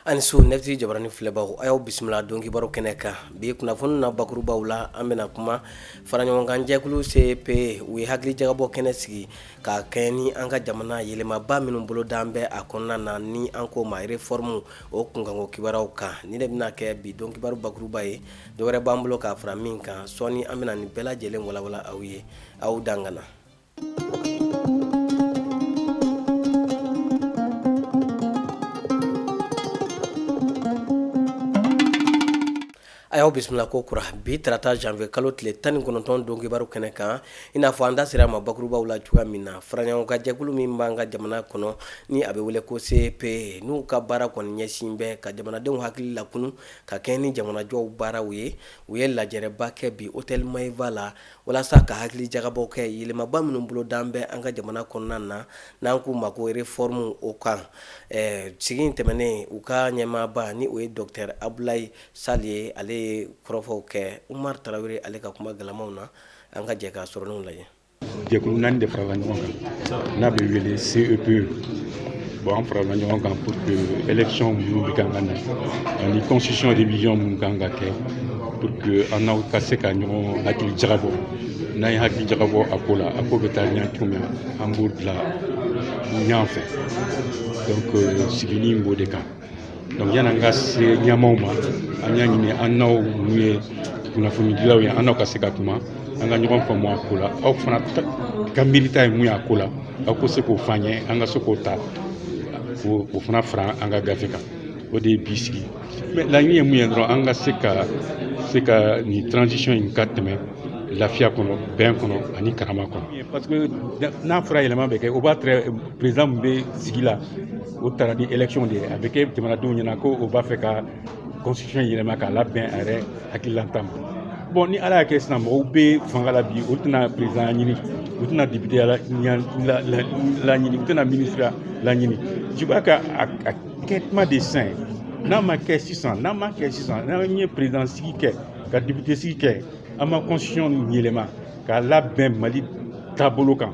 a ni su neti jabarani filɛbaw a y'aw bisimila don kibaru kɛnɛ kan bi kunnafoni na bakurubaw la an bɛna kuma faraɲɔgɔnkan jɛkulu CEP u ye hakili jagabɔ kɛnɛ sigi ka kɛɲɛ ni an ka jamana yɛlɛmaba minnu bolodalen bɛ a kɔnɔna na ni an k'o ma réforme o kunkanko kibaruyaw kan nin de bɛna kɛ bi don kibaru bakuruba ye dɔ wɛrɛ b'an bolo k'a fara min kan sɔɔni an bɛna nin bɛɛ lajɛlen walanwalan aw ye aw dangana A y'aw bisimila kokura bi tarata janvier kalo tile tan ni kɔnɔntɔn don kibaru kɛnɛ kan i n'a fɔ an da sera a ma bakurubaw la cogoya min na faraɲɔgɔnkan jɛkulu min b'an ka jamana kɔnɔ ni a bɛ wele ko CEP n'u ka baara kɔni ɲɛsin bɛ ka jamanadenw hakili lakunun ka kɛɲɛ ni jamanajɔ baaraw ye u ye lajɛrɛba kɛ bi hôtel Maeva la walasa ka hakili jagabɔ kɛ yɛlɛmaba minnu bolodalen bɛ an ka jamana kɔnɔna na n'an k'u ma ko réformew o kan sigi in tɛmɛnen u ka ɲɛmaaba ni o ye docteur Abdoulaye Sall ye ale ye kɔrɔfɔw kɛ Umaru Tarawele ale ka kuma galamaw na an ka jɛ k'a sɔrɔlenw lajɛ jɛkulu naani de farala ɲɔgɔn kan n'a bɛ wele CEP bon an farala ɲɔgɔn kan pour que élection minnu bɛ kan ka na ani constitution révision minnu kan ka kɛ pour que an n'aw ka se ka ɲɔgɔn hakili jagabɔ n'an ye hakili jagabɔ a ko la a ko bɛ taa ɲɛ cogo min an b'o bila ɲɔgɔn fɛ donc sigili b'o de kan donc yani an ka se ɲɛmaaw ma an y'a ɲini an n'aw minnu ye kunnafonidilaw ye an n'aw ka se ka kuma an ka ɲɔgɔn faamu a ko la aw fana ka miirita ye mun y'a ko la aw ka se k'o f'an ye an ka se k'o ta o fana fara an ka gafe kan o de ye bi sigi mais laɲini ye mun ye dɔrɔn an ka se ka se ka nin transition in ka tɛmɛ lafiya kɔnɔ bɛn kɔnɔ ani karama kɔnɔ parce que n'a fɔra yɛlɛma bɛ kɛ o b'a tɛrɛ président min bɛ sigi la o taara ni élection de ye a bɛ kɛ jamanadenw ɲɛna ko o b'a fɛ ka constitution yɛlɛma k'a labɛn a yɛrɛ hakililata ma bon ni ala y'a kɛ sisan mɔgɔw bɛ fanga la bi olu tɛna présidentya ɲini u tɛna députéya laɲini u tɛna ministreya laɲini je crois que a kɛ tuma de sisan ye n'a ma kɛ sisan n'a ma kɛ sisan n'an ye président sigi kɛ ka député sigi kɛ an ma constitution yɛlɛma k'a labɛn mali taabolo kan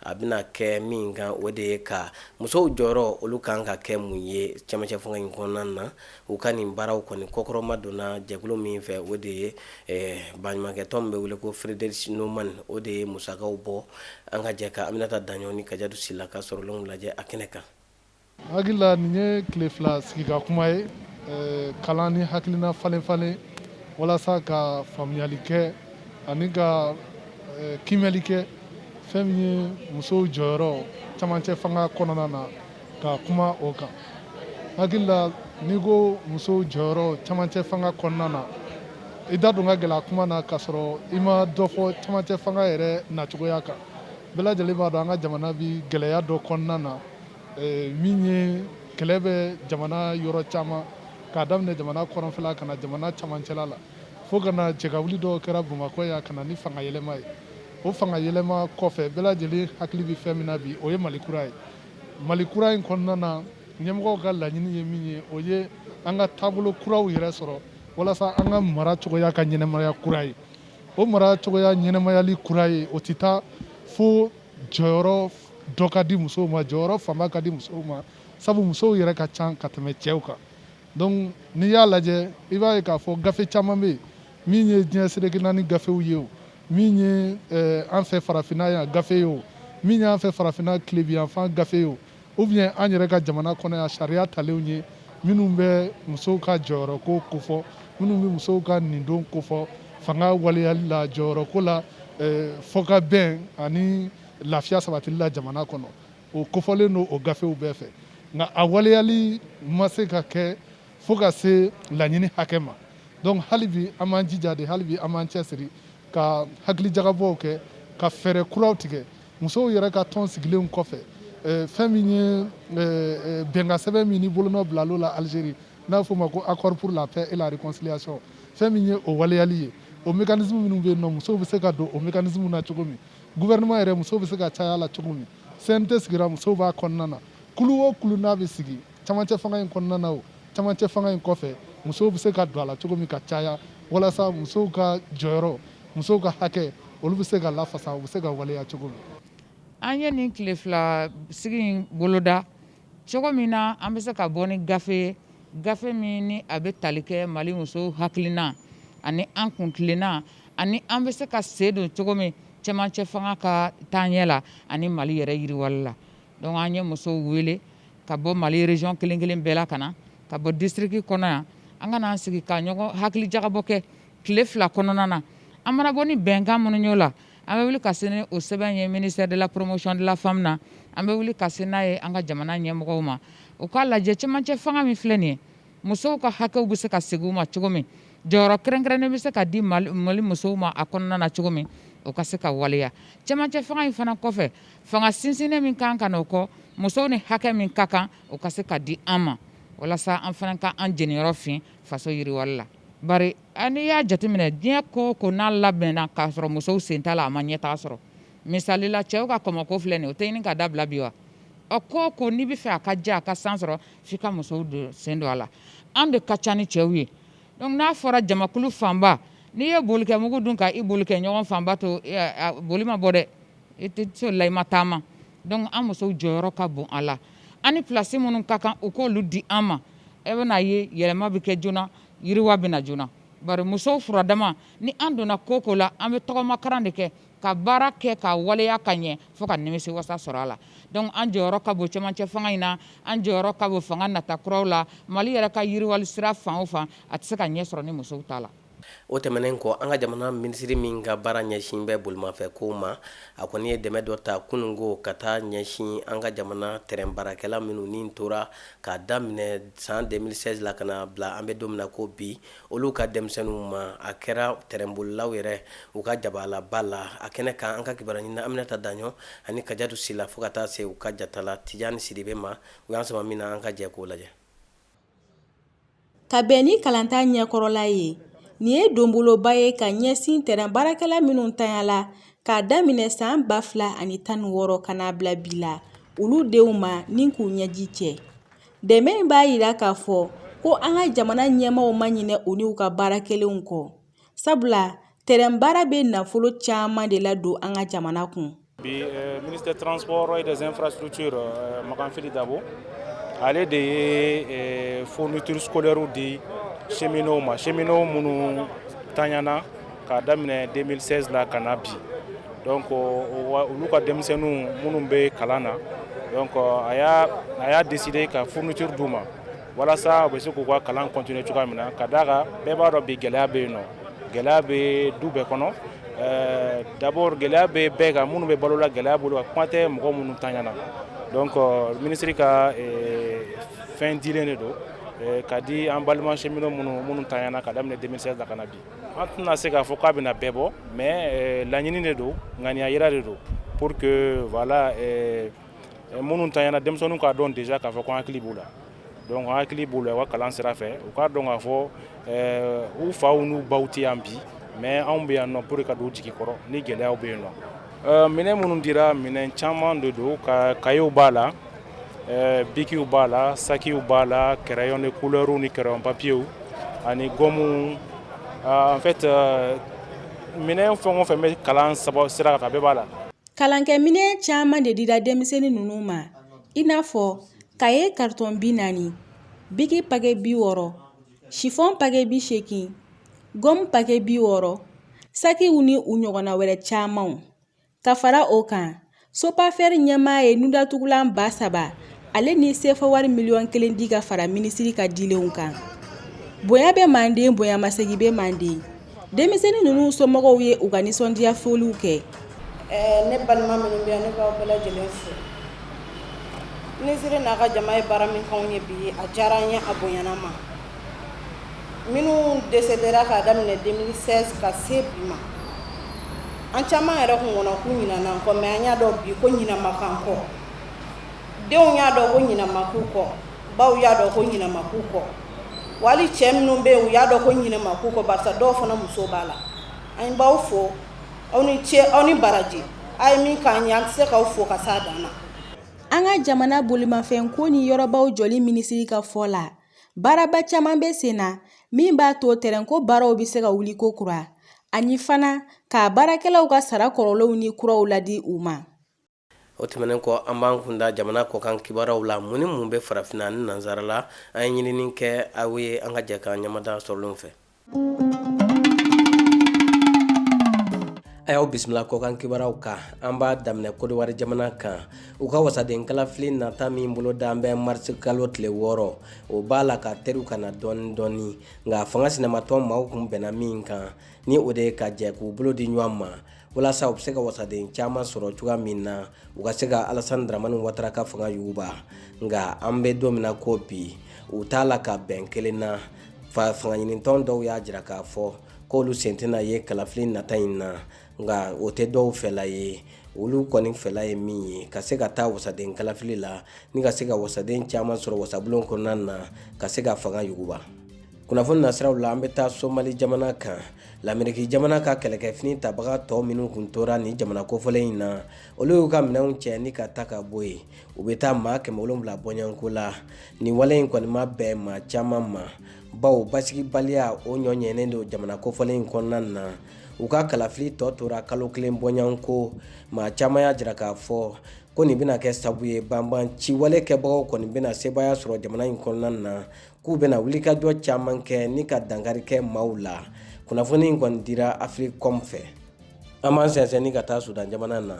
a bɛna kɛ min kan o de ye ka musow jɔyɔrɔ olu kan ka kɛ mun ye cɛmancɛ fanga in kɔnɔna na u ka nin baaraw kɔni kɔkɔrɔma donna jɛkulu min fɛ o de ye baɲumankɛtɔn min bɛ wele ko Friedrich Naumann o de ye musakaw bɔ an ka jɛ ka Aminata Daɲɔgɔ ni Kajatu Sila ka sɔrɔlenw lajɛ a kɛnɛ kan Hakilila nin ye tile fila sigi ka kuma ye kalan ni hakilina falen falen walasa ka faamuyali kɛ ani ka kiimɛli kɛ fɛn min ye musow jɔyɔrɔ camancɛ fanga kɔnɔna na ka kuma o kan hakilila n'i ko musow jɔyɔrɔ camancɛ fanga kɔnɔna na i da don ka gɛlɛ kuma na ka sɔrɔ i ma dɔ fɔ camancɛ fanga yɛrɛ nacogoya kan bɛɛ lajɛlen b'a dɔn an ka jamana bɛ gɛlɛya dɔ kɔnɔna na eh, min ye kɛlɛ bɛ jamana yɔrɔ caman k'a daminɛ jamana kɔrɔnfɛla ka na jamana camancɛla la fo ka na jɛkawuli dɔw kɛra bamakɔ yan ka na ni fanga yɛlɛma ye o fanga yɛlɛma kɔfɛ bɛɛ lajɛlen hakili bɛ fɛn min na bi o ye mali kura ye mali kura in kɔnɔna na ɲɛmɔgɔw ka laɲini ye min ye o ye an ka taabolo kuraw yɛrɛ sɔrɔ walasa an ka mara cogoya ka ɲɛnamaya kura ye o mara cogoya ɲɛnamayali kura ye o tɛ taa fo jɔyɔrɔ dɔ ka di musow ma jɔyɔrɔ fanba ka di musow ma sabu musow yɛrɛ ka ca ka tɛmɛ cɛw kan donc n'i y'a lajɛ i b'a ye k'a fɔ gafe caman bɛ yen min ye diɲɛ seleke naani gafew ye o min ye eh, an fɛ farafinna yan gafe ye o min y'an fɛ farafinna tilebiyanfan gafe ye o Ou bien an yɛrɛ ka jamana kɔnɔ yan sariya talenw ye minnu bɛ musow ka jɔyɔrɔ ko kofɔ minnu bɛ musow ka nin don kofɔ fanga waleyali la jɔyɔrɔ ko la fo ka bɛn ani lafiya sabatili la jamana kɔnɔ o kofɔlen don o gafew bɛɛ fɛ nka a waleyali ma se ka kɛ fo ka se laɲini hakɛ ma donc halibi an b'an jija de halibi an b'an cɛ siri ka hakilijakabɔw kɛ ka fɛɛrɛ kuraw tigɛ musow yɛrɛ ka tɔn sigilenw kɔfɛ fɛn min ye bɛnkan sɛbɛn min ni bolonɔ bilal'o la algérie n'a f'o ma ko accord pour la paix et la réconciliation fɛn min ye o waleyali ye o mécanisme minnu bɛ yen nɔ musow bɛ se ka don o mécanisme na cogo min gouvernement yɛrɛ musow bɛ se ka caya la cogo min cnt sigira musow b'a kɔnɔna na kulu o kulu n'a bɛ sigi camancɛ fanga in kɔnɔna na o camancɛ fanga in kɔfɛ musow bɛ se ka don a la cogo min ka caya walasa musow ka jɔyɔrɔ musow ka hakɛ olu bɛ se ka lafasa u bɛ se ka waleya cogo min an ye nin tile fila sigi in boloda cogo min na an bɛ se ka bɔ ni gafe ye gafe min ni a bɛ tali kɛ mali musow hakilina ani an kuntilenna ani an bɛ se ka sen don cogo min cɛmancɛ fanga ka taaɲɛ la ani mali yɛrɛ yiriwali la donc an ye musow wele ka bɔ mali région kelen kelen bɛɛ la ka na ka bɔ district kɔnɔ yan an ka n'an sigi ka ɲɔgɔn hakilijakabɔ kɛ tile fila kɔnɔna na an mana bɔ ni bɛnkan minnu y'o la an bɛ wuli ka se ni o sɛbɛn ye ministère de la promotion de la femme na an bɛ wuli ka se n'a ye an ka jamana ɲɛmɔgɔw ma u k'a lajɛ cɛmancɛ fanga min filɛ nin ye musow ka hakɛw bɛ se ka segin u ma cogo min jɔyɔrɔ kɛrɛnkɛrɛnnen bɛ se ka di mali musow ma a kɔnɔna na cogo min o ka se ka waleya cɛmancɛ fanga in fana kɔfɛ Fanga sinsinnen min kan ka na o kɔ musow ni hakɛ min ka kan o ka se ka di an ma walasa an fana ka an jeniyɔrɔ fin faso yiriwali la bari n'i y'a jateminɛ diɲɛ ko o ko n'a labɛnna k'a sɔrɔ musow sen t'a la a ma ɲɛtaa sɔrɔ misali la cɛw ka kɔmɔko filɛ nin ye o tɛ ɲini ka dabila bi wa ko o ko n'i bɛ fɛ a ka diya a ka san sɔrɔ f'i ka musow don sen don a la an de ka ca ni cɛw ye dɔnku n'a fɔra jamakulu fanba n'i ye boli kɛ mugu dun ka i boli kɛ ɲɔgɔn fanba to boli ma bɔ dɛ E tɛ se o la i ma taama dɔnku an musow jɔyɔrɔ ka bon a la an ni pilasi minnu ka kan u k'olu di an ma e bɛna ye yɛlɛma bɛ kɛ joona yiriwa bɛ na joona bari musow furadama ni an donna ko o ko la an bɛ tɔgɔmakaran de kɛ ka baara kɛ ka waleya ka ɲɛ fo ka nimisiwasa sɔrɔ a la dɔnku an jɔyɔrɔ ka bon cɛmancɛ fanga in na an jɔyɔrɔ ka bon fanga nata kuraw la Mali yɛrɛ ka yiriwali sira fan o fan a tɛ se ka ɲɛ sɔrɔ ni musow t'a la O tɛmɛnen kɔ an ka jamana minisiri min ka baara ɲɛsin bɛ bolimafɛn kow ma a kɔni ye dɛmɛ dɔ ta kunungo ka taa ɲɛsin an ka jamana tɛrɛn baarakɛla minnu ni tora k'a daminɛ san 2016 la ka na bila an bɛ don min na ko bi olu ka denmisɛnninw ma a kɛra tɛrɛnbolilaw yɛrɛ u ka jabalaba la a kɛnɛ kan an ka kibaruya ɲinina Aminata Daɲɔ ani Kajatu Sila fo ka taa se u ka jatala Tijani Sidibe ma u y'an sama min na an ka jɛ k'o lajɛ Ka bɛn ni kalanta ɲɛkɔrɔla ye nin ye donboloba ye ka ɲɛsin tɛrɛn baarakɛla minnu tanya la k'a daminɛ san ba fila ani tan ni wɔɔrɔ ka na bila bi la olu denw ma ni k'u ɲɛji cɛ dɛmɛ in b'a yira k'a fɔ ko an ka jamana ɲɛmaaw ma ɲinɛ u n'u ka baara kɛlenw kɔ sabula tɛrɛn baara bɛ nafolo caman de la don an ka jamana kun bi ministe tranp ye deɛnenfasiw ci makanfi dabo ale de ye ftuurusɛw de sɛmin o ma sɛmin o minnu tanyana k'a daminɛ denmisɛnnin la ka na bi dɔn ko olu ka denmisɛnninw minnu bɛ kalan na a y'a de de ka ftuuru di u ma walasa u bɛ se k'u ka kalan continuer cogoya min na ka d'a kan bɛɛ b'a dɔn bi gɛlɛya bɛ yen nɔ gɛlɛya bɛ du bɛɛ kɔnɔ euh, d'abord gɛlɛya bɛ bɛɛ kan minnu bɛ balo la gɛlɛya b'olu kan kuma tɛ mɔgɔ minnu tanyana donc euh, minisiri ka euh, fɛn dilen de don ka di an balima cheminot minnu minnu tanyana k'a daminɛ 2016 la ka na bi an tɛna se k'a fɔ k'a bɛna bɛɛ bɔ mais laɲini de don ŋaniya yira de don pour que voilà minnu tanyana denmisɛnninw k'a dɔn déjà k'a fɔ ko hakili b'u la donc hakili b'u la u ka kalan sira fɛ u k'a dɔn k'a fɔ eh, u faw n'u baw tɛ yan bi mais anw bɛ yan nɔ pour ka don u jigi kɔrɔ ni gɛlɛyaw bɛ yen nɔ eh, minɛn minnu dira minɛn caman de don ka kayew b'a la eh, bikiw b'a la sakiw b'a la crayon de couleurs ni crayon papiyew ani gɔmuw ah, en fait minɛn fɛn o fɛn bɛ kalan sira kan a bɛɛ b'a la Kalankɛ minɛn caman de dira denmisɛnnin ninnu ma i n'a fɔ kaye karitɔn bi naani biki pakɛ bi wɔɔrɔ sifɔn pakɛ bi seegin gɔmu pakɛ bi wɔɔrɔ sakiw ni u ɲɔgɔnna wɛrɛ camanw ka fara o kan Sopafer ɲɛmaa ye nundatugulan ba saba Ale ni sefa wari miliyɔn kelen di ka fara minisiri ka dilenw kan bonya bɛ manden bonyamasegin bɛ manden denmisɛnnin ninnu somɔgɔw ye u ka nisɔndiya foliw kɛ ne balima minnu bɛ yan ne b'aw bɛɛ lajɛlen fo minisiri n'a ka jama ye baara min k'anw ye bi a diyara an ye a bonyana ma minnu desedera k'a daminɛ 2016 ka se bi ma an caman yɛrɛ kun kɔnɔ k'u ɲinana an kɔ mais an y'a dɔn bi ko ɲina ma k'an kɔ denw y'a dɔn ko ɲina ma k'u kɔ baw y'a dɔn ko ɲina ma k'u kɔ wali cɛ minnu bɛ yen u y'a dɔn ko ɲina ma k'u kɔ barisa dɔw fana muso b'a la an b'aw fo aw ni ce aw ni baraji a ye min k'an ye an tɛ se k'aw fo ka s'a dan na An ka jamana bolimafɛnko ni yɔrɔbaw jɔli minisiri ka fɔ la, baaraba caman bɛ sen na min b'a to tɛrɛnko baaraw bɛ se ka wuli kokura, ani fana k'a baarakɛlaw ka sara kɔrɔlenw ni kuraw ladi u ma. o tɛmɛnen kɔ an b'an kun da jamana kɔkan kibaraww la mun ni mun bɛ farafinna ni nansarala an ye ɲinini kɛ a ye an ka jɛ k'an ɲamada sɔrɔlenw fɛ a y'aw bisimila kɔkan kibaraww kan an b'a daminɛ kodiwari jamana kan u ka wasadenkalafili nata min bolodalen bɛ marisikalo tile wɔɔrɔ o b'a la ka terun ka na dɔɔni dɔɔni nka fanga sinamatɔn maaw kun bɛnna min kan ni o de ye ka jɛ k'u bolo di ɲɔgɔn ma walasa u bɛ se ka wasaden caman sɔrɔ cogoya min na u ka se ka alasan dramani watara ka fanga yuguba nka an bɛ don min na ko bi u t'a la ka bɛn kelen na fangaɲinitɔn dɔw y'a jira k'a fɔ k'olu sen tɛna ye kalafili nata in na nka o tɛ dɔw fɛla ye olu kɔni fɛla ye min ye ka se ka taa wasaden kalafili la ni ka se ka wasaden caman sɔrɔ wasabulon kɔnɔna na ka se ka fanga yuguba kunnafoni nasiraw la an bɛ taa somali jamana kan lameriki jamana ka kɛlɛkɛfini tabaga tɔw minnu kun tora nin jamana kofɔlen in na olu y'u ka minɛnw cɛ ni ka ta ka bɔ yen u bɛ taa maa kɛmɛ wolonwula bɔɲɔgɔnko la nin wale in kɔni ma bɛn maa caman ma bawo basigibaliya o ɲɔ ɲɛnen don jamana kofɔlen in kɔnɔna na u ka kalafili tɔ tora kalo kelen bɔɲɔgɔnko maa caman y'a jira k'a fɔ ko nin bɛna kɛ sabu ye banbaanciwale kɛbagaw kɔni bɛna sebaaya sɔrɔ jamana in kɔnɔna na k'u bɛna wulikajɔ caman kɛ ni ka dankari kɛ maaw la kunnafoni in kɔni dira africom fɛ an b'an sɛnsɛnni ka taa sudan jamana na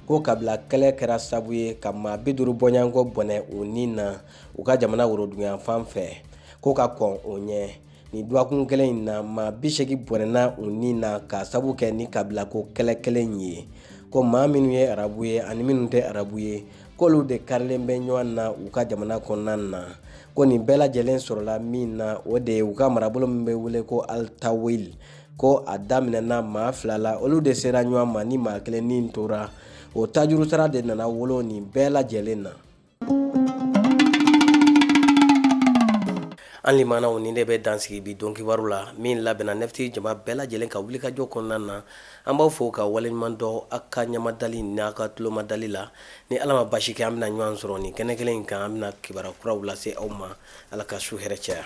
ko kabila kɛlɛ kɛra sabu ye ka maa bi duuru bɔɲɔgɔnko bɔnɛ u ni na u ka jamana woroduguyanfan fɛ ko ka kɔn o ɲɛ nin dɔgɔkun kelen in na maa bi segin bɔnɛna u ni na k'a sabu kɛ ni kabilako kɛlɛ kelen ye ko maa minnu ye arabu ye ani minnu tɛ arabu ye k'olu de karilen bɛ ɲɔgɔn na u ka jamana kɔnɔna na ko nin bɛɛ lajɛlen sɔrɔla min na o de ye u ka marabolo min bɛ wele ko altawil ko a daminɛna maa fila la olu de sera ɲɔgɔn ma ni maa kelen ni tora o tajurusara de nana wolo nin bɛɛ lajɛlen na an limanaw nin de bɛ dan sigi bi don kibaru la min labɛnna nefti jama bɛɛ lajɛlen ka wulikajɔ kɔnɔna na an b'aw fo ka waleɲuman dɔn aw ka ɲamadali n'a ka tulomadali la ni ala ma basi kɛ an bɛna ɲɔgɔn sɔrɔ nin kɛnɛ kelen in kan an bɛna kibaru kuraw lase aw ma ala ka su hɛrɛ caya